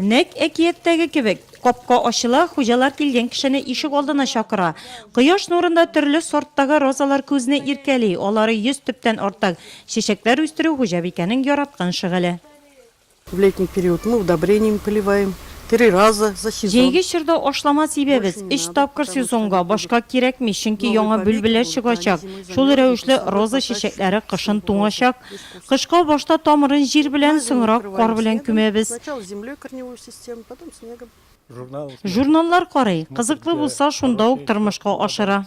Нәкъ әкияттәге кебек, капка ачыла, хуҗалар килгән кешене ишек алдына чакыра. Кояш нурында төрле сорттагы розалар күзне иркәли, алары йөз төптән артык. Чәчәкләр үстерү хуҗабикәнең яраткан шөгыле. В летний период мы удобрениями поливаем три раза за сезон. Җәйге чорда ашлама сибәбез, өч тапкыр сезонга, башка кирәкми, чөнки яңа бөлбеләр чыгачак. Шул рәвешле роза чәчәкләре кышын туңачак. Кышка башта тамырын җир белән, соңрак кар белән күмәбез. Журналлар карый, кызыклы булса, шунда ук тормышка ашыра.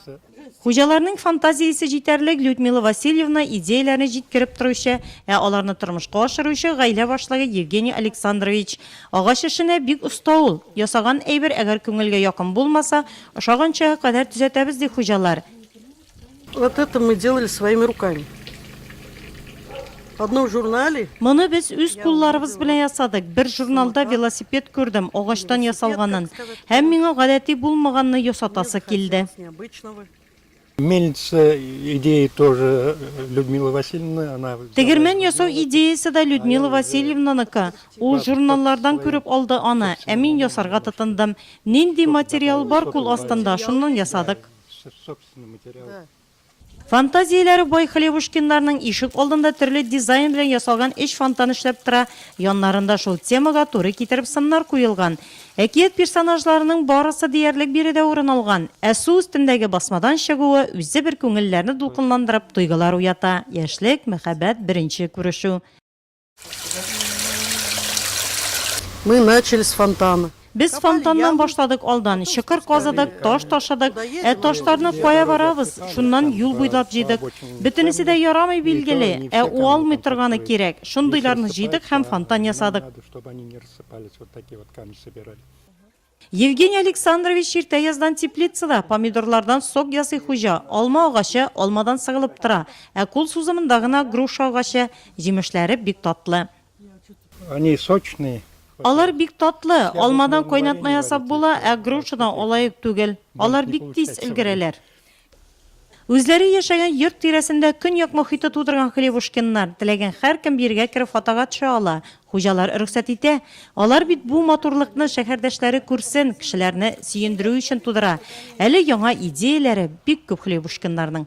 Хуҗаларның фантазиясе җитәрлек, Людмила Васильевна, идеяләрне җиткереп торучы, ә аларны тормышка ашыручы, гаилә башлыгы Евгений Александрович. Агач эшенә бик оста ул. Ясаган әйбер әгәр күңелгә якын булмаса, ошаганчага кадәр төзәтәбез, ди хуҗалар. Вот это мы делали своими руками. Одно в журнале. Моны без үз кулларыбыз белән ясадык. Бер журналда велосипед күрдем, агачтан ясалганын. Һәм миңа гадәти булмаганны ясатасы килде. Мельница идея тоже э, Людмила Васильевна. Она... Тегермен ясау идеясы да Людмила Васильевнаныка. Ул журналлардан күреп алды аны, ә мин ясарга тотындым. Нинди материал бар кул астында, шуннан ясадык. Фантазияләре бай Хлебушкиннарның ишек алдында төрле дизайн белән ясалган өч фонтан эшләп тора, яннарында шул темага туры китереп сыннар куелган. Әкият персонажларының барысы диярлек биредә урын алган. Ә су өстендәге басмадан чыгуы үзе бер күңелләрне дулкынландырып, тойгылар уята, яшьлек, мәхәббәт, беренче күрешү. Мы начали с фонтана. Без фонтаннан башладык алдан, чокыр казыдык, таш ташыдык, ә ташларны кая барабыз, шуннан юл буйлап җыйдык. Бөтенесе дә ярамый билгеле, ә уалмый торганы кирәк. Шундыйларны җыйдык һәм фонтан ясадык. Евгений Александрович иртә яздан теплицада, помидорлардан сок ясый хуҗа, алма агачы, алмадан сыгылып тора, ә кул сузымында гына груша агачы, җимешләре бик татлы. Они сочные. Алар бик татлы, алмадан кайнатма ясап була, ә грушадан алай ук түгел. Алар бик тиз өлгерәләр. Үзләре яшәгән йорт тирәсендә көньяк мохиты тудырган Хлевушкиннар, теләгән һәркем бирегә кереп фотога төшә ала, хуҗалар рөхсәт итә. Алар бит бу матурлыкны шәһәрдәшләре күрсен, кешеләрне сөендерү өчен тудыра. Әле яңа идеяләре бик күп Хлевушкиннарның.